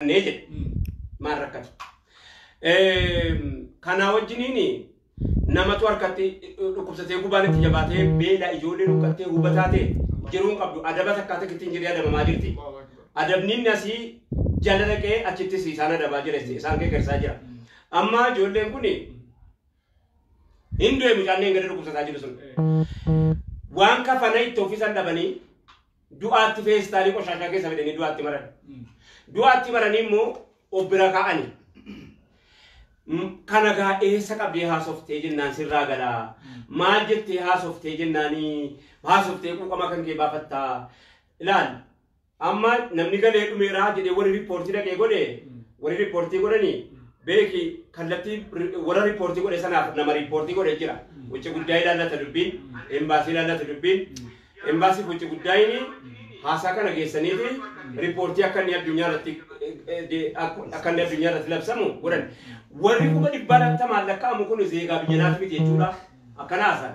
arganne jedhe. Maal rakkate? Kanaa wajjiniin namatu harkatti dhukkubsatee gubaan itti jabaatee beela ijoollee dhukkubsattee hubataatee jiruu hin qabdu adaba takkaa takkitti hin jiree adabamaa jirti. Adabniin asii jala dhaqee achittis isaan adabaa jira isaan geggersaa jira. Amma ijoolleen kun Hin du'e mucaalleen gadi dhukkubsataa jiru sun. Waan kafana itti ofisan dhabanii du'aatti feestaalii qoshaashaa keessa fidanii du'aatti maran. Du'aatti maranii immoo obbira kaa'ani. Kana gaa eessa qabdee haasoftee jennaan sirraa galaa. Maal jettee haasoftee jennaanii haasoftee quuqama kan kee baafattaa. Ilaal Amma namni galee dhumeeraa jedhee warri riippoortii dhaqee godhe warri riippoortii godhani beeki kallattii warra riippoortii godhe sanaaf nama riippoortii godhe jira. Wucci guddaa ilaallata dubbiin, embaasii ilaallata dubbiin, embaasii wucci guddaayin haasaa kana geessaniiti riippoortii akka inni addunyaa irratti akka inni addunyaa irratti labsamu godhan. Warri kuma dhibbaa lakkaa'amu kun zeegaa biyya naati miti jechuudha. Akkana haasaa.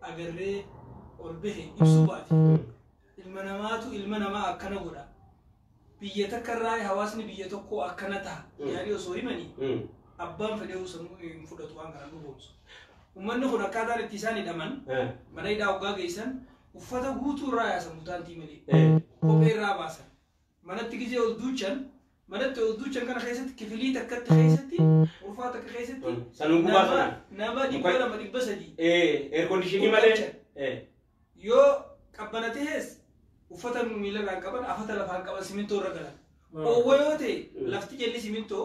agarree ol bahe ibsuu baate ilma namaatu ilma namaa akkana godha biyya takka irraa hawaasni biyya tokkoo akkana taha yaanii osoo himanii Mm. abbaan fedheewu sammuu hin fudhatu waan kana dhugoomsu. Uummanni kun akkaataan itti isaan hidhaman Eh. mana hidhaa hoggaa geessan uffata guutuu irraa yaasan mutaantii malee Eh. kophee irraa baasan Manatti gizee ol duuchan manatti ol duuchan kana keessatti kifilii takkatti keessatti urfaa takka keessatti Mm. Sanuu gubaa nama- sana. nama dhibba Muka- lama dhibba sadii Eh, air conditionii malee. Gurraacha. Eh. yoo qabbana ta'es uffata miilarraa hin qaban afata lafaa hin qaban simintoo irra galan. Oowwa yoo ta'e Mm. lafti jalli simintoo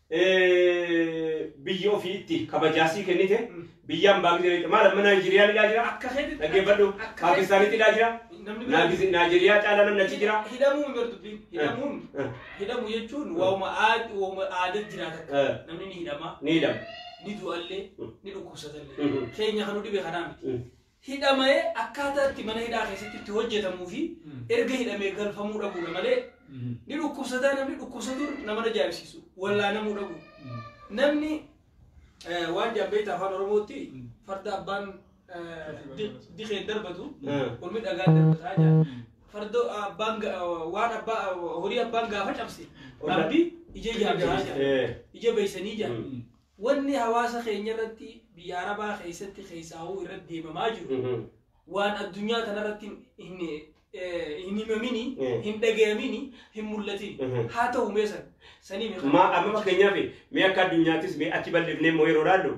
biyya ofii itti kabajaa sii kennite biyya ambaa gizee beekte maal amma Naayijeeriyaan ilaa jira Akka keetti dhaggeeffadhu akka keetti- Paakistaanitti ilaa jira namni biraa- Naagiz- Naayijeeriyaa caalaa namni achi jira Hidhamuu hin beektu dubbiin. Hidhamuun Eh. hidhamu jechuun waa'uma aad- waa'uma aadaa jiraata akka. Eh. Namni ni hidhama, ni hidhama ni du'allee, Mm. ni dhukkubsatallee. Mhm. Keenya kan nu dhibe kanaa miti. Mm. hidhamaee akkaataa itti mana hidhaa keessatti itti hojjetamuu fi erga hidhamee galfamuu dhabuudha malee ni dhukkubsataa namni dhukkubsatuun nama ajaa'ibsiisu wallaanamuu dhabu namni eh, waan jaambeeyta afaan oromootti farda abbaan eh, di- dikeen darbatu Mm. ormi dhagaa darbataa jaa fardo abbaan ga- waan abbaa horii abbaan gaafa cabse Olla- rabbi ija ijaa gahaa jaa Eh. ija beeysanii jaa Mm. Wanni hawaasa keenya irratti biyya Arabaa keessatti keessaahuu irratti deemamaa jiru Mhm. waan addunyaa tanarratti hin eh, hin himamini, Eh. hin dhagayamini, hin mul'atini. Mhm. Haa ta'u mee san sanii mee Ma amma fakkeenyaaf mee akka addunyaattis mee achi bal'ifnee immoo yeroo ilaallu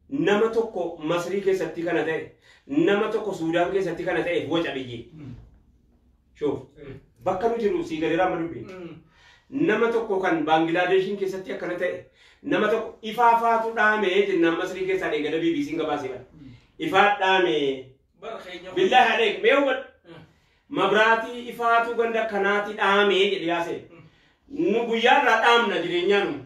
nama tokko Masrii keessatti kana ta'e nama tokko Suudaan keessatti kana ta'eef waca biyyi. Shuuf. Bakka nu jirru sii galeeraa amma dubbiin. Nama tokko kan Baangilaadeshiin keessatti akkana ta'e nama tokko ifaa faatu dhaame jennaan Masrii keessaa dheengada BBC'n gabaasee bara. Ifaa dhaame. Bara keenya. Billaa haadheek mee hubadhu. Mabraatii ifaatu ganda kanaati dhaame jedhe yaasee. Nu guyyaa irraa dhaamna jireenyaa nu.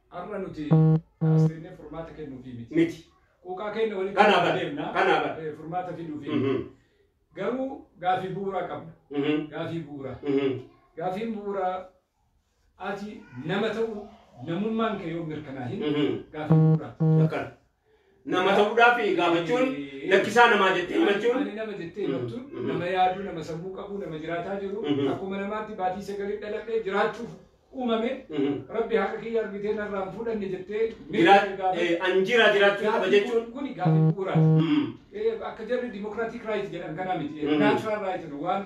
Har'a nuti haasofnee furmaata kennuufii miti. Miti. Quuqaa keenya walitti Kanaa qabnee bara. deemna. Kanaa bara. Eh, Furmaata fiduufii. Mhm. Garuu gaafii bu'uuraa qabna. Mhm. Gaafii bu'uuraa. Mhm. Gaafiin bu'uuraa ati nama ta'uu namummaan kee yoo mirkanaahin Mhm. gaafii bu'uuraa. Akkana. Nama ta'uudhaaf gaafachuun lakkisaa namaa jettee himachuun. Ani nama jettee himattuun Mhm. nama yaaduu, nama sammuu qabu, nama jiraataa jiru Mhm. akkuma namaatti baatii sagalii dhaladhee jiraachuuf uumame Mhm. rabbi haqa kiyya argitee narraa hin fuudhanne jettee Jiraa- mirga gaafatu. eh, an jiraa jiraachuu qaba Gaafii jechuun. kun- Kuni gaafii bu'uuraati. Mhm. Eh, akka jarri dimokiraatik raayit jedhan kanaa miti Mhm. naachuraal raayit waan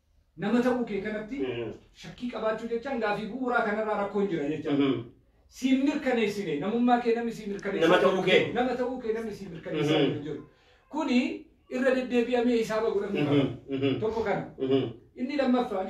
nama ta'uu kee kanatti shakkii qabaachuu jechaan gaafii bu'uuraa kanarraa rakkoon jira jechaa siin mirkaneessine namummaa kee namni sii mirkaneessaa Nama ta'uu kee. nama ta'uu kee namni sii mirkaneessaa Mhm. hin jiru kuni irra deddeebi'amee hisaaba godhamuu qaba tokko kana inni lammaffaan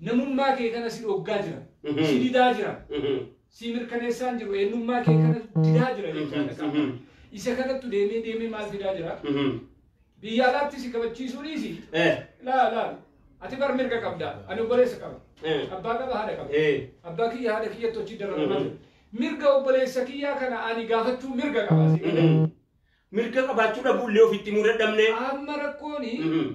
Namummaa kee kana si dhoggaa jira. Mhm. Si didaa jira. Mhm. Si mirkaneessaan jiru. Eenyummaa kee kana didaa jira jechaadha qaama. Mhm. Isa kanattu deemee deemee maal fidaa jira? Mhm. Biyya alaatti si kabachiisuu dhiisi. Eh. Laa laa. Ati bar mirga qabda. Ani obboleessa qaba. Eh. Abbaa qaba haadha qaba. Eh. Abbaa kiyya haadha kiyyatti hojii dararamaa Mhm. jira. Mirga obboleessa kiyyaa kana ani gaafachuu mirga qaba. si jedhe. Mhm. Mirga qabaachuu dhabuullee ofitti muu dadhabnee. Amma rakkooni Mhm.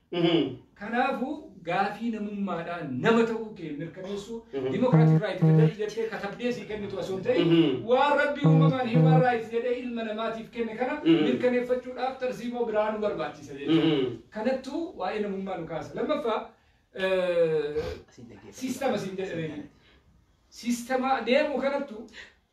Kanaafuu gaafii namummaadhaan nama ta'uu kee mirkaneessuu dimokiraatik raayit federal jettee katabdee sii kennitu osoo hin ta'in waan rabbi uumamaan hiimaan raayit jedhee ilma namaatiif kenne kana mirkaneeffachuudhaaf tarsiimoo biraa nu barbaachisa jechuudha. Kanattuu waa'ee namummaa nu kaasa. Lammaffaa siistama siin jedhanii siistama deemu kanattu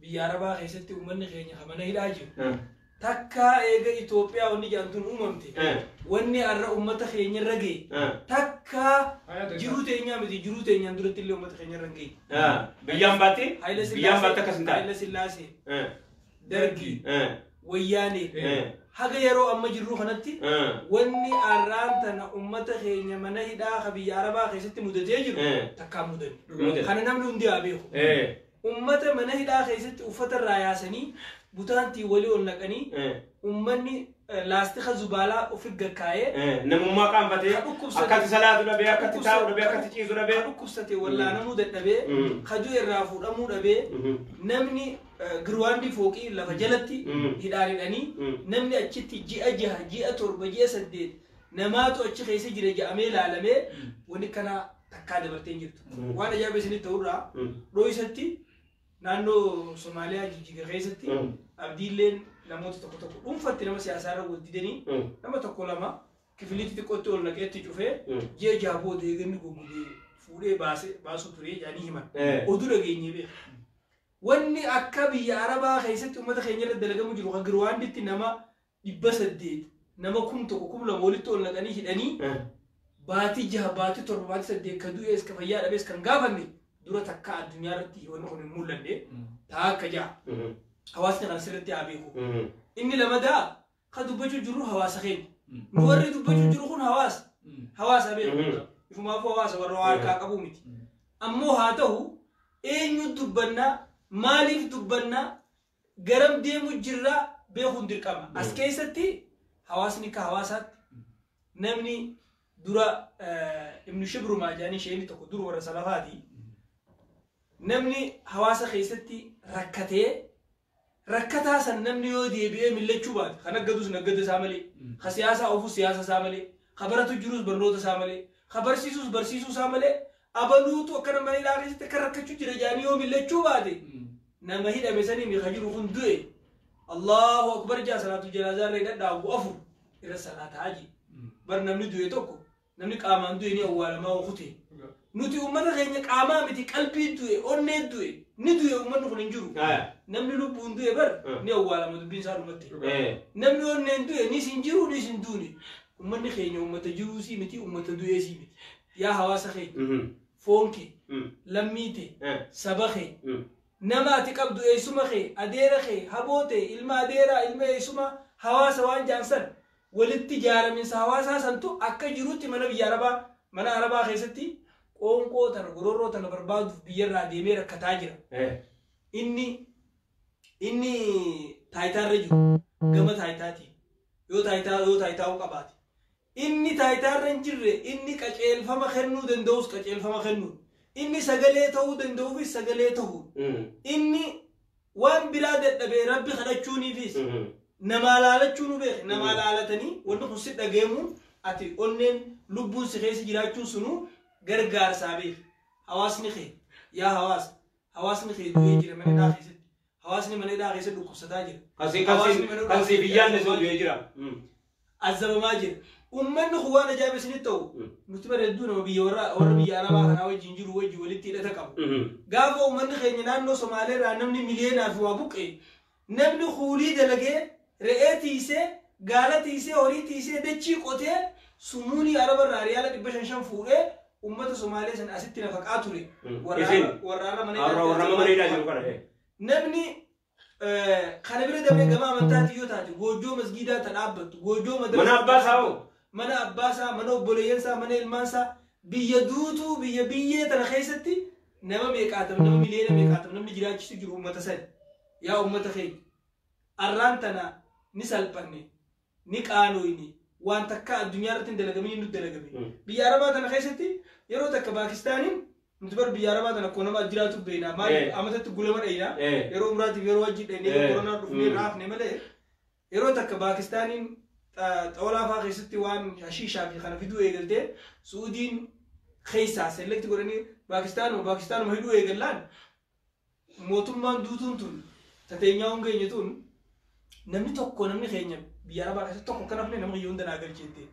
biyya Arabaa keessatti uummanni keenya ka mana hidhaa jiru. Eh. Takkaa eega Itoophiyaa wanni jedhamtuun uumamte. Eh. Wanni har'a uummata keenya irra ga'e. Eh. Takkaa jiruu teenyaa miti jiruu teenyaan duratti illee uummata keenya irra hin ga'e. Eh. Biyyaan baattee? Haayila Biyyaan baattee akkas hin taane. Haayila Sillaasee, Eh. Dargii, Eh. Wayyaanee. Eh. Haga yeroo amma jirru kanatti Eh. wanni arraan tana uummata keenya mana hidhaa ka biyya Arabaa keessatti mudatee jiru Eh. takkaa mudanne. Mudanne. Kana namni hundi haa beeku. Eh. Ummata mana hidhaa keessatti uffata irraa yaasanii butaantiin walii ol naqanii Eh. ummanni eh, laastika zubaalaa ofi gakkaa'ee Eh, Namummaa qaanfatee Ka dhukkubsate. akkatti salaatu dhabee akkatti taa'u dhabee akkatti ciisu dhabee. Ka dhukkubsate wallaanamuu dadhabee Mm. kajuu irraa fuudhamuu dhabee Mhm. namni eh, girwaandii fooqii lafa jalatti Mm. hidhaan hidhanii Mm. namni achitti ji'a jaha ji'a torba ji'a saddeet namaatu achi keessa jira ja'amee ilaalamee wani kana takkaa dabartee hin jirtu. Mm. Waan ajaa'ibaa isinitti ta'urraa Mm. dhooysatti naannoo Somaaliyaa jijjiga keessatti Mm. abdiilleen namoota tokko tokko dhuunfatti nama siyaasaa irra wal didanii Mm. nama tokko lama kifiliitti xiqqootti ol naqeetti cufee Mm. ji'a jaha booda eeganni goggogee fuudhee baase baasuu ture jedhanii himan. Eh. Oduu dhageenyee beeku. Wanni akka biyya Arabaa keessatti uummata keenya irra dalagamu jiru kan Girwaanditti nama dhibba saddeet nama kum tokko kum lama walitti ol naqanii hidhanii Eh. baatii jaha baatii torba baatii saddeet ka du'ees ka fayyaa dhabees kan gaafanne dura takka addunyaa irratti wanni kun hin mul'anne taa akka jaha Mhm. hawaasni kana sirriitti haa beeku Mhm. inni lamadaa ka dubbachuu jirru hawaasa keenya nu warri dubbachuu jiru kun hawaasa hawaasa beeku Mhm. ifumaafuu hawaasa warra waa harkaa qabuu miti ammoo haa ta'u eenyu dubbannaa maaliif dubbannaa garam deemu jirra beekuun dirqama. As keessatti hawaasni akka hawaasaatti namni dura eh, ibnu shibrumaa jedhanii sheekni tokko dur warra salafaati. Namni hawaasa keessatti rakkatee rakkataa san namni yoo deebi'ee millachuu baate kan aggadus naggada isaa malee ka siyaasaa ofus siyaasa isaa malee ka baratu jirus barnoota isaa malee ka barsiisus barsiisuu isaa malee abaluutu akkana mana hidhaa keessatti akka rakkachuu jira jedhanii yoo millachuu baate nama hidhame sanii mika jiru kun du'e Allahu akbar jaa salaatu janaazaa irra hidhadhaa ogu afur irra salaata haji bar namni du'e tokko namni qaamaan du'e ni awwaalamaa okute nuti ummata keenya qaamaa miti qalbii du'e onnee du'e ni du'e ummanni kun hin jiru Aya. namni lubbuun du'e bar Mm. ni awwaalama dubbiin isaa dhumatti Eh. namni onneen du'e nis hin jiru nis hin duune ummanni keenya ummata jiruusii miti ummata du'eesii miti Yaa hawaasa kee, foon kee, lammii tee, saba kee, nama ati qabdu, eessuma kee, adeera kee, haboo tee, ilma adeeraa, ilma eessumaa, hawaasa waan ja'an san, walitti jaaraminsa hawaasaa santu akka jirutti mana biyya Arabaa, mana Arabaa keessatti qoonqoo tana, gororroo tana barbaaduuf biyyarraa deemee rakkataa jira. Inni, inni taayitaarra jiru, gama taayitaatiin, yoo taayitaa, yoo taayitaa'uu qabaate, Inni taayitaarra hin jirre, inni qaceelfama kennuu danda'us qaceelfama kennuun, inni sagalee ta'uu danda'uufis sagalee ta'uun, inni waan biraa dadhabee Rabbi kadhachuuniifis namaa laalachuu nu beeke, namaa laalatanii wanni kun si dhagayamuun ati onneen lubbuun si keessa jiraachuun sunuu gargaarsaa beeki. Hawaasni kee, yaa hawaasa, hawaasni kee du'ee jira mana hidhaa keessatti. Hawaasni mana hidhaa keessa dhukkubsataa jira. Kan si- kan si- Hawaasni mana kan hidhaa siif hin keessa yaadne sun du'ee jira. Mm. azzabamaa jira. Uummanni kun waan ajaa'iba isinitti ta'u Mm. nuti bara hedduu nama biyya warra warra biyya arabaa kanaa wajjin jiru wajjin walitti hidhata qabu. Mhm. Gaafa uummanni keenya naannoo Somaalee irraa namni miliyoonaa fi waa buqqee namni kuulii dalagee Re'ee tiysee, gaala tiysee, horii tiysee, dachii qotee, sumuunii Araba irraa riyaala dhibba shan shan fuudhee ummata Somaalee san asitti nafaqaa ture. Mm. Warra Isin? Arra- warra Arra mana Arra warra mana hidhaa jiru kana. eh. Namni eh, kana bira dabree gama amantaatiin yoo taate goojjoo masgiidaa ta dhaabbattu, goojjoo madrasaa Mana abbaa isaa hoo? mana abbaa isaa, mana obboleeyyan isaa, mana ilmaan isaa, biyya duutuu, biyya biyyee tana keessatti nama meeqaatam, nama miliyoona meeqaatam namni jiraachisu jiru uummata sani. Yaa uummata keenya. arraan tana ni salphanne, ni qaalooyne, waan takkaa addunyaa irratti hin dalagaminiin nutti dalagame. Biyya Arabaa tana keessatti yeroo takka Paakistaaniin nuti bar biyya Arabaa tana akkuma nama jiraatu beeyna. Eh. Maaliif amatatti gulama dhayna. Eh. Yeroo umraatiif yeroo hajjii dhayne yeroo Eh. koronaa dhufnee Mm. raafne malee yeroo takka Paakistaaniin xa- xawalaa fa'aa keessatti waan hashiishaa fi kana fiduu eegaltee Suudiin keessaa selekti godhanii Paakistaanuma Paakistaanuma hidhuu eegallaan Mootummaan duutuun tun ta teenyaa hongeenye tun namni tokko namni keenya biyya arabaa keessatti tokko akka nafne nama kiyya hunda naa galche jettee.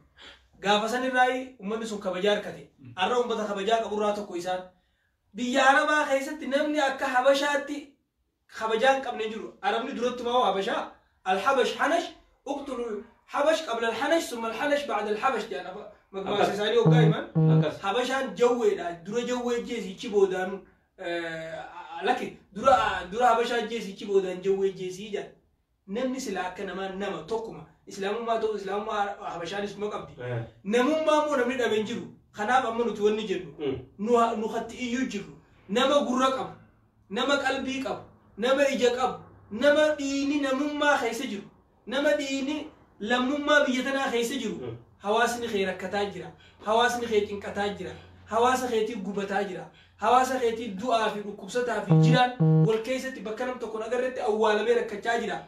Gaafa san irraa ummanni sun kabajaa harkate. Arra ummata kabajaa qaburraa tokko isaan. Biyya arabaa keessatti namni akka habashaatti kabajaa hin qabne hin jiru. Arabni durattumaa hoo habashaa alhabash hanash uqtulu habash qabla alhanash summa alhanash ba'da alhabash jedhan afa- magmaasa Akkas. isaanii hoggaa himan. Akkas. Habashaan jawweedha dura jawwee jeesi ichi boodaanu Laki dura dura habasha ajjeesi ichi boodaan jawwee ajjeesii jedha. Namni sila akka namaa nama tokkuma islaamummaa ta'u islaamummaa habashaanis kuma qabdi. Namummaa immoo namni dhabe hin jiru. Kanaaf amma nuti wanni jennu nu nu hatti iyyuu jirru nama gurra qabu nama qalbii qabu nama ija qabu nama dhiini namummaa keessa jiru Nama dhiiyni lammummaa biyya tanaa keessa jiru hawaasni kee rakkataa jira, hawaasni kee cinqataa jira, hawaasa keetii gubataa jira, hawaasa keetii du'aa fi dhukkubsataa fi jiraan wal keessatti bakka nam tokkon agarretti awwaalamee rakkachaa jira.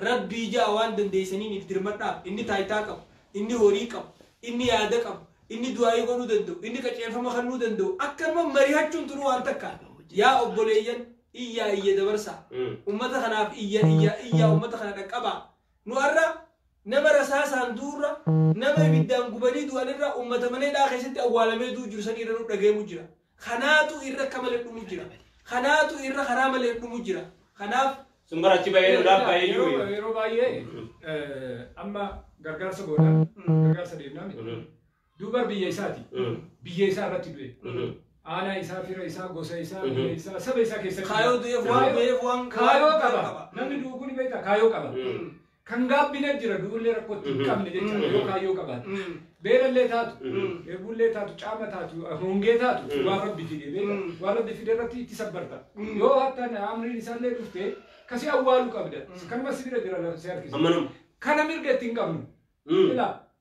Rabbii ja'a waan dandeeysaniiniif dirmadhaaf. Inni taaytaa qabu, inni horii qabu, inni yaada qabu, inni du'aa'ii godhuu danda'u, inni qaceelfama kannuu danda'u akkanuma marihachuun tunu waan takka. Yaa obboleeyyan! Iyyaa iyya dabarsaa. Ummata kanaaf iyya iyya iyyaa ummata kana dhaqqabaa. Nu har'a nama rasaasaan du'urra, nama ibiddaan gubanii du'anirra ummata mana hidhaa keessatti awwaalamee du'u jiru san irra nu dhagahamu jira. Kanaatu irra akka malee dhumu jira. Kanaatu irra karaa malee dhumu jira. Kanaaf Sun bara achi bahee lolaaf bahee jiru. Yeroo yeroo baay'ee eh, amma gargaarsa goonaan gargaarsa deemnaan Duubar biyya isaati. Biyya isaa irratti du'e. Aanaa isaa, fira isaa, gosa isaa, biyya isaa, saba isaa keessatti. Kaayoo du'eef waan Kaayoo- du'eef waan Kaayoo waan qaba. qaba. Namni du'u kun beektaa kaayoo qaba. Kan gaabbina jira du'ullee rakkootti hin qabne jecha yoo kaayoo qabaate. Beelallee taatu, dheebullee taatu, caama taatu, hongee taatu waan rabbi fide beektaa. Waan rabbi fide irratti itti sabbarta. Yoo hattaan amriin isaallee dhufte kasii awwaalu qabda. Kanuma si bira jira lafa si harkisa. Amma nama. Kana mirga itti hin qabnu. Ilaa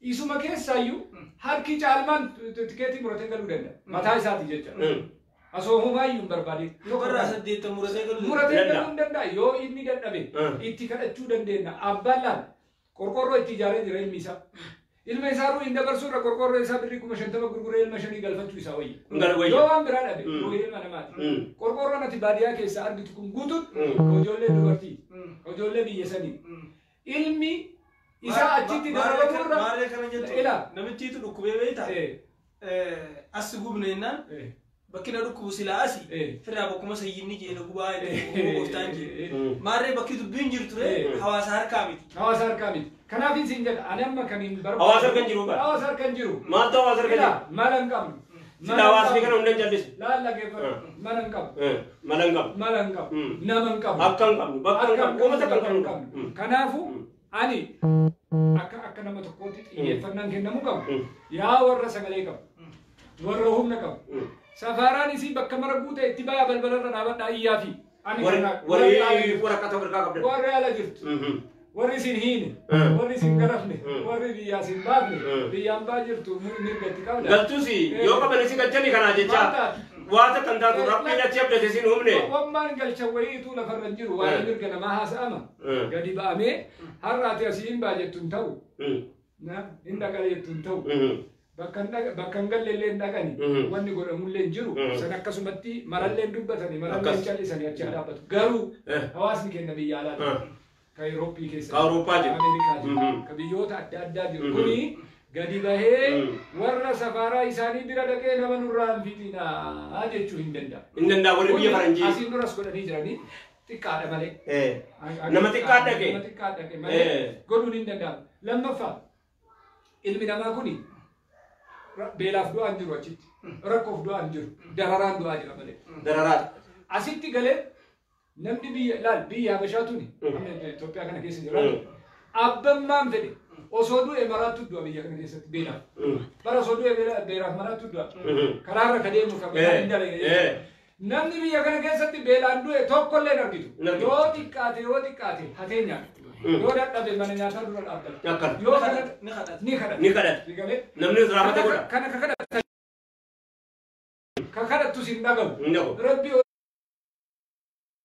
Isuma keessaayyuu harki caalmaan tikeetii muratee galuu danda'a. Mataa isaati jecha. Asoo homaayyuu hin barbaadin. Yoo karraa saddeettan muratee galuu Muratee Danda'a. galuu hin danda'a. Yoo inni dadhabe Mm. itti kadhachuu dandeenya. Abbaan laal qorqoorroo itti ijaaree jira ilmi isaa. Ilma isaa ruu hin dabarsuu irra qorqoorroo isaa birrii kuma shantama gurguree ilma shanii galfachuu isaa wayya. Ngal wayya. Yoo waan biraa dhabe Mm. ruuhii ilma namaati. Mm. Qorqoorroon ati baadiyyaa keessaa argitu kun guutuun Mm. ijoollee dubartii, ijoollee biyya sanii. Ilmi isaa achitti dararamu irra Maarree kana jettu ila namichiitu dhukkubee beekta. eh, As gubne jennaan eh, bakki na dhukkubu silaa asi Eh. firraa bakkuma sayyinni jee na gubaa eh, jedhu gooftaan jee. eh, eh. Maarree bakki dubbiin jirtu Eh. ree hawaasa harkaa miti. hawaasa harkaa miti. Kanaaf isin jedha ani amma kan hin barbaadu. Hawaasa harka hin jiru bara. Hawaasa harka hin jiru. Maaltu hawaasa harka Ila, jiru? mala hin qabnu. Sila hawaasni kana hunda hin callisu. Laal dhaggeeffadhu. Eh. Mana hin qabu. Eh, Mala hin qabu. Mala hin qabu. Mm. Nama hin qabu. Akka hin qabnu, bakka hin qabnu, uummata akka hin qabnu. Mm. Kanaafuu Mm. ani akka akka nama tokkootti xiyyeeffannaan kennamuu qabu. Mm. Yaa warra sagalee qabu. Warra humna qabu. Mm. Safaaraan isii bakka mara guute itti ba'aa balbalarra dhaabadhaa iyyaa fi. Ani Warri- kana- warri warri ala ala jirtu. jirtu. Waraqata of harkaa qabdan. Warri ala jirtu. Mhm. Warri isin hiine. Mm. Warri isin garafne. Mm. Warri biyyaa isin baafne. Mm. Biyyaan baa jirtu mir- mirga itti qabda. Galtus yoo qaban isin galchanii kanaa jecha waa takka hin taatu rabbiin achi abdate isin humne. Wammaan galcha wayiitu lafarra hin jiru. Waa'ee Mm. mirga namaa haasa'ama. Mm. Gadi ba'amee har'aati asii hin baa jettu hin ta'u. Mm. na- hin dhaqan jettu hin ta'u. Mhm. Bakka hin dhaqa- bakka hin galle illee hin dhaqani. Mhm. Wanni godhamullee hin jiru. Mhm. San akkasumatti marallee hin dubbatani. Marallee hin Akkas. callisani achi hin dhaabbatu. Garuu Eh. hawaasni keenya biyya Ah. alaati. Ka Awurooppii keessa. Ka Awurooppaa jiru. Ka Ameerikaa jiru. Mhm. Ka biyyoota adda addaa jiru. Mhm. Kuni gadi bahee Mhm. warra safaaraa isaanii bira dhaqee nama nurraa hin fixinaa jechuu hin danda'u. Hin danda'a warri biyya Kuni faranjii. Asiin duras godhanii jiranii. xiqqaadha malee. Eh. Nama xiqqaa dhaqe. Nama xiqqaa dhaqe malee Eh. godhuun hin danda'amu. Lammaffaa ilmi namaa kuni ra- beelaaf du'aa hin jiru achitti. Rakkoof du'aa hin jiru. Dararaan du'aa jira malee. Dararaa. Asitti galee namni biyya ilaal biyya Habashaa tuni Mm. amma Itoophiyaa kana keessa jira. Mm. Abbammaan fedhe osoo du'e maraattu du'a biyya kana keessatti beelaaf. Mm. Bara osoo du'e beela- beelaaf maraattu du'a. Mhm. Karaarra ka deemu kan Eh. hin dalagine. Eh. Namni biyya kana keessatti beelaan du'e tokko illee hin argitu. Hin argitu. Yoo xiqqaate yoo xiqqaate hatee nyaata. Mm. Yoo dadhabe mana nyaataa dura dhaabbata. Akkana. Yoo kana Ni kadhata. ni kadhata. Ni kadhata. Ni galee. Namni raamata godha. Kana ka kadhata. Ka kadhattus hin dhagahu. Hin dhagahu. Rabbi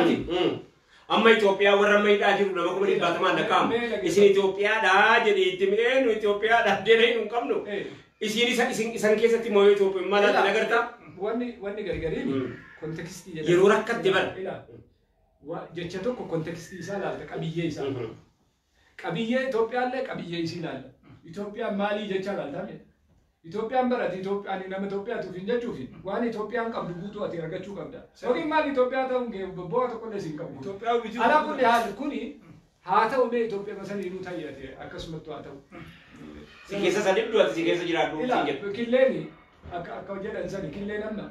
Ati amma Itoophiyaa warra amma hidhaa jiru nama kuma dhibbaatamaan lakkaa'amu. Isin Itoophiyaadhaa jedhee itti mi'ee nu Itoophiyaadhaa deena hin qabnu. Isin isa isin isan keessatti moo Itoophiyaa maal ati nagarta? Wanni wanni gargariin kontekstii jedhama. Yeroo rakkatte bara. Jecha tokko kontekstii isaa laalta qabiyyee isaa. Qabiyyee Itoophiyaallee qabiyyee isii ilaalla. Itoophiyaan maalii jechaa ilaaltaa mee? Itoophiyaan bara ati Itoophiyaanii nama Itoophiyaati ofiin jechuufi waan Itoophiyaan qabdu guutuu ati argachuu qabda. Yookiin maal Itoophiyaa ta'uun kee bu'aa tokkollee siin qabu. Itoophiyaa wiji Ala hojii kulli haal kuni haa ta'u mee Itoophiyaa masaniinuu ta'i ati akkasumattu haa ta'u. Si keessa sadiddu ati si keessa jiraadhu siin Ilaa jedhu. killeen akka akka jedhan sani killeen amma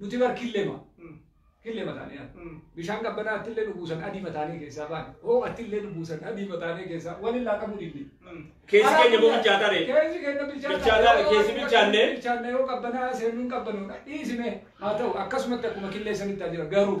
Nuti bar killema, killema taane yaada. Mm. Bishaan qabbanaa attillee nu buusan adiima taanee keessaa baane. Hoo attillee nu buusan adiima taanee keessaa waliin laaqamuu didne. Keessi keenya immoo bilchaataa ree. Keessi keenya bilchaataa. Bilchaataa ree, keessi bilchaannee. Bilchaannee yoo qabbanaa seennuun qabbanoodha. Dhiisime haa ta'u akkasumatti akkuma killeessanitti haa jira garuu.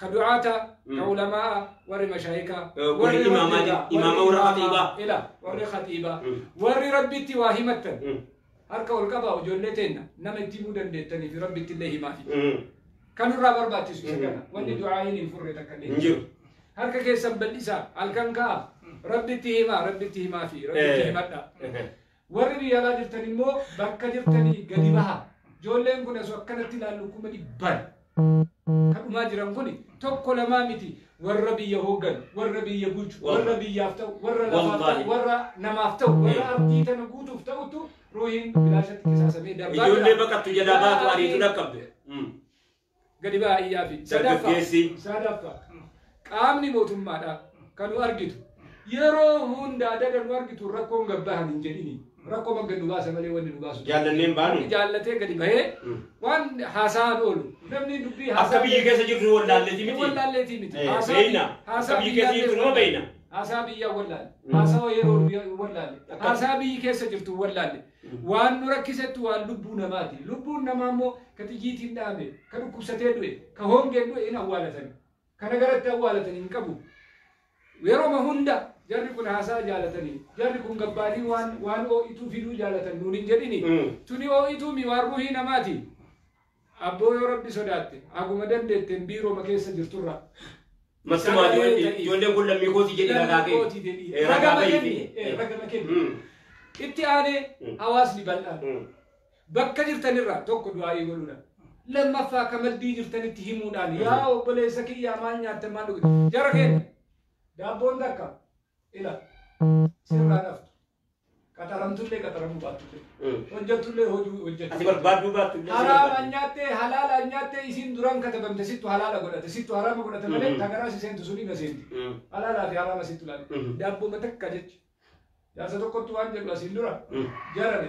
ka du'aata ka Mm. ulamaa'a warri mashaayika Eh, warri imaama rabbiidha, di- imaama warri imaama, khatiibaa. ila warri khatiibaa Mm. warri rabbitti waa himattan Mm. harka ol qabaa ijoollee teenna nama itti himuu dandeettanii fi rabbitti illee himaafi Mm. kan irraa barbaachisu isa Mm. kana wanni Mm. du'aa'iin hin furre takka illee hin jiru harka keessan bal'isaa halkan ka'a rabbitti himaa rabbitti himaa fi rabbitti Eh. himadha Eh. Warri biyya alaa jirtan immoo bakka jirtanii gadi bahaa. Ijoolleen kun osoo akkanatti ilaallu kuma dhibbaan kan dhumaa jiran kun tokko lamaa miti warra biyya hoogganu, warra biyya bulchu, warra biyyaaf ta'u, warra lafaaf ta'u, warra namaaf ta'u, warra ardii tana guutuuf ta'utu ruuhiin bilaashatti qisaasamee darbaa jira. Ijoollee baqattu jalaa baatu ariitu dhaqqabde. gadi bahaa iyyaafii. Dargaggeessi. Sadaffaa, qaamni mootummaadhaa kan nu argitu yeroo hunda adada nu argitu rakkoon gad bahan hin jedhini. Rakkoo maggan nu baasa malee wanni nu baasu. Jaallanneen baanu. Namni jaallatee gadi bahee Mm. waan haasa'aan oolu. Namni dubbii Akka haasa'aa- biyyi keessa jirtu wallaalleeti miti. Wallaalleetii miti. Eh, Haasaa- beeyna. haasaa Akka biyyi keessa biyyaallee jirtu nama wallaalle. beeyna. Haasaa biyyaa wallaalle. Haasawa yeroo biyya wallaalle. Akka- Haasaa biyyi keessa jirtu wallaalle. Waan nu rakkisettu waan lubbuu namaati. Lubbuun namaa immoo ka xiyyiitiin dha'ame, ka dhukkubsatee du'e, ka hongeen du'e hin awwaalatan. Kana garatti awwaalatan hin qabu. Yeroma hunda jarri kun haasa'a jaalatani. Jarri kun gabbaanii waan waan oo'ituu fiduu jaalatan nuun hin jedhini. Tuni oo'ituumi waan ruuhii namaati. Abboo yoo rabbi sodaatte haguma dandeetteen biirooma keessa jirturraa Mattumaa sagalee ijoollee ta'iif. ijoolleen kun lammii kootii jedhii ragaa Lammii kee. kootii jedhii. Eh, Ragaa Ragama bahii kenni. fi- Eh, ragama kenni. Mm. Itti aanee Mm. hawaasni bal'aan Mm. bakka jirtanirraa tokko du'aa'ii godhuudhaan lammaffaa ka maddii jirtanitti himuudhaan Mm. yaa obboleessa kiyyaa maal nyaatta maal dhuge jara keenya daabboon takka ila sirraa dhaftu Qaxaramtullee qaxaramuu baattullee. Mm. Hojjattullee hojuu Ati hojjattu. barbaaduu baattu illee si Haraama barbaaddi. nyaattee halaala nyaattee isiin duraan katabamte sittu halaala godhate sittu haraama godhate malee Mhm. tagaraa si seentu suni na seenti. Mm. Halaalaa fi haraama sittu laala. Mhm. Daabbuma takka jecha. Jaarsa tokkottu waan jedhu asiin dura Mm. jarame.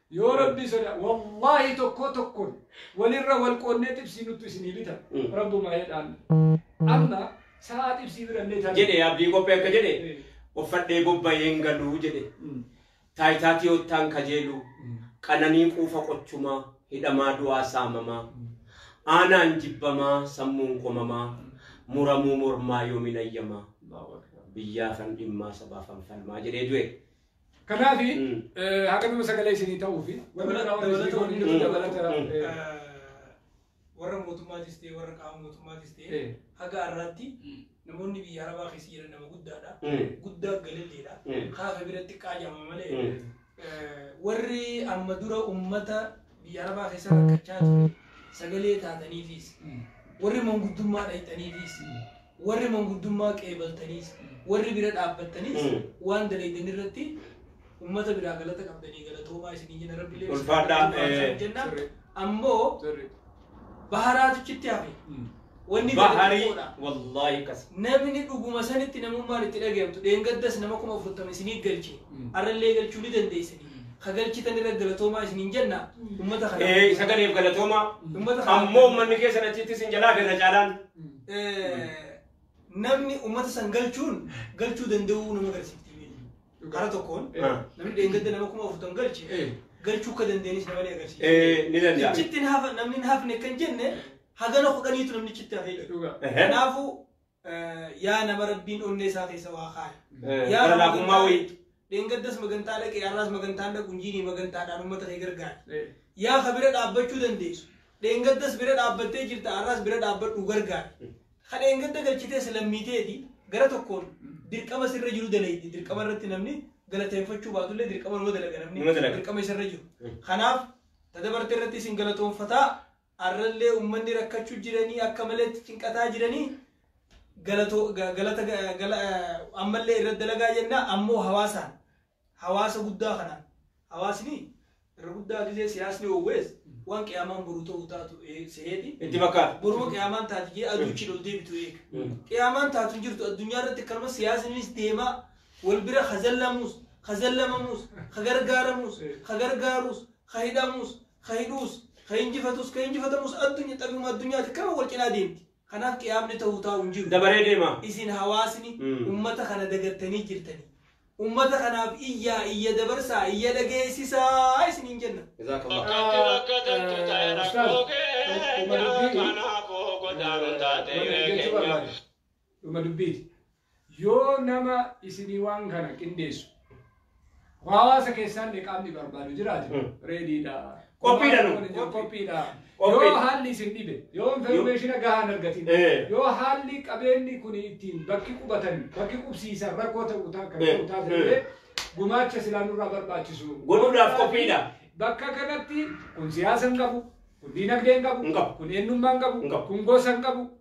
Yoo rabbii sodaa wallahi tokkoo tokkon walirra wal qoonnee xibsii nuttu isinii bita Mm. rabbumaa jedhaan amma sa'aa xibsii birallee taate jedhe abdii qophee akka jedhe Eh. uffadhee bobba'een galuu jedhe Mm. taayitaa tiyoottaan kajeeluu Mm. qananii quufa qochumaa hidhamaa du'aa saamamaa aanaan jibbamaa sammuun komamaa muramuu mormaa yoomin ayyamaa Allahu Akbar. biyyaafan dhimmaa sabaafan falmaa jedhee du'e Kanaaf haga nama sagalee isinii ta'uu fi warri Dabala- qaama dabalata isinii wanni godhanii nuti dabalata, dabalata, eh, eh, warra mootummaatis ta'e warra qaama mootummaatis ta'e eh, haga har'aatti namoonni biyya arabaa keessa jiran nama guddaadha Mm. guddaa galilleedha Mm. kaafa biratti qaajama malee Mm. eh, warri amma dura ummata biyya arabaa keessa rakkachaa ture sagalee taataniifis mm, warri manguddummaa dhayxaniifis Warri manguddummaa qeebaltaniis, warri bira dhaabbattaniis waan dalaydani irratti ummata biraa galata qabdanii galatoomaa isiniin jenna rabbi illee Ulfaadhaa, isin eh, haa jenna sirri. ammoo Sirri. baharaatu chitti hafe wanni gadi Baharii xiqqoodha. wallaahi akkas. namni dhuguma sanitti namummaan itti dhaga'amtu dheengaddas nama kuma afurtama isinii galche Mm. arrallee galchuu ni dandeessani ka galchitan irra galatoomaa isiniin jenna ummata kana Eh, isa galeef galatooma. Ummata kana- Ammoo uummanni keessan achitti isin jalaa irra caalaan. Mm. namni uummata san galchuun galchuu danda'uu nama agarsiifti. Kara tokkoon namni dheengadda nama kuma afurtam galche galchuu akka dandeenyis nama ni agarsiisa. Ni danda'a. Achitti namni hin hafne kan jenne hagana kudhaniitu namni achitti hafee jira. Kanaafuu yaa nama rabbiin onnee isaa keessa waa kaaya. Yaa nama laafummaa wayii. Dheengaddas magantaa dhaqe, har'aas magantaan dhaqu hin jiini magantaadhaan ummata kee gargaari. Eh. Yaa ka bira dhaabbachuu dandeessu. Dheengaddas bira dhaabbattee jirta, har'aas bira dhaabbadhu gargaari. Ka dheengadda galchitees lammiiteeti gara tokkoon dirqama sirra jiru dalaydi. Dirqama irratti namni galateeffachuu baatullee dirqama nama dalaga namni. Nama dalaga. Dirqama isarra jiru. Mm. Kanaaf ta dabarte irratti isin galatoonfataa arrallee ummanni rakkachuu jiranii akka maleetti cinqataa jiranii galatoo ga- galata ga- gala ammallee irra dalagaa jenna ammoo hawaasaan hawaasa guddaa kanaan hawaasni irra guddaa gisee siyaasni oowwees waan qiyaamaan boru ta'uu taatu ee- se'eeti Itti fakkaata. boruma qiyaamaan taati jee aduuchi ol deebitu eega Mm. qiyaamaan taatu hin jirtu addunyaa irratti akkanuma siyaasnis deemaa wal bira hazallamuus hazallamamuus hagargaaramuus hagargaaruus hahidhamuus ka hidhuus ka injifatuus ka injifatamus addunya xabiyuma addunyaati kama wal cinaa deemti kanaaf qiyaamni ta'uu taa'u hin jiru dabaree deema isin hawaasni Mm. ummata kana dagattanii jirtanii ummata kanaaf iyyaa iyya dabarsaa iyya dhageessisaa isiniin jenna jazakallah Bakkatti bakkatantu ta'e rakkoo keenya kanaafuu godaanuun taate hiree keenya. dhuma dubbiiti Yoo nama isinii waan kana qindeessu hawaasa keessaallee qaamni barbaadu jiraate Hmm. reediidha. Qophiidha nu. Waan jiru Qophiidha. Qophiidha. Yoo haalli isin dhibe, yoo informaationa gahaa hin argatin, Eh. yoo haalli qabeenyi kun ittiin bakki qubatan, bakki qubsiisan rakkoo ta'u ta- kan Eh. ta'u taate Eh. illee gumaacha silaa nurraa barbaachisu. Godhuudhaaf qophiidha. Bakka kanatti kun siyaasa hin qabu, kun diinagdee hin Hin qabu. qabu, kun eenyummaa hin Hin qabu, qabu. kun gosa hin qabu,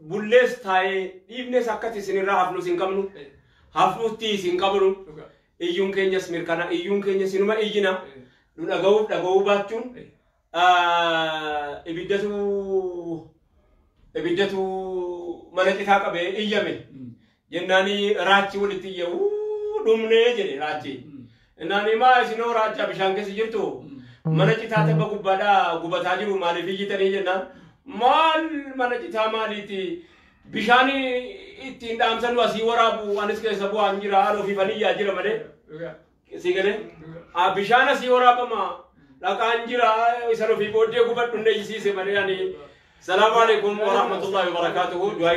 Bullees taa'ee dhiifnees akkati isin irraa hafnus hin qabnu. Hafuttiis hin qabnu. Iyyuun keenyas mirkana. Iyyuun keenya sinuma iyyina. Nu dhaga'uuf dhaga'uu baachuun ibiddatu ibiddatu mana citaa qabee iyyame. Jennaani raachi wolitti iyye uu d'umne jed'e raachi. Jennaani ma isinoo raacha bishaan keessa jirtu mana citaa tabba gubbaadha gubataa jiru maaliif iyyitanii jennaan maal mana citaa maaliiti bishaan ittiin dhaamsanu asii waraabu anis keessa bu'aan jira an ofiifan iyyaa jira malee sii galee Ah, bishaan asii waraabama dhaqaan jira isan ofii booddee gubadhu na iyyisiise malee ani salaamu alaikum warahmatullahi wabarakaatuhu du'aa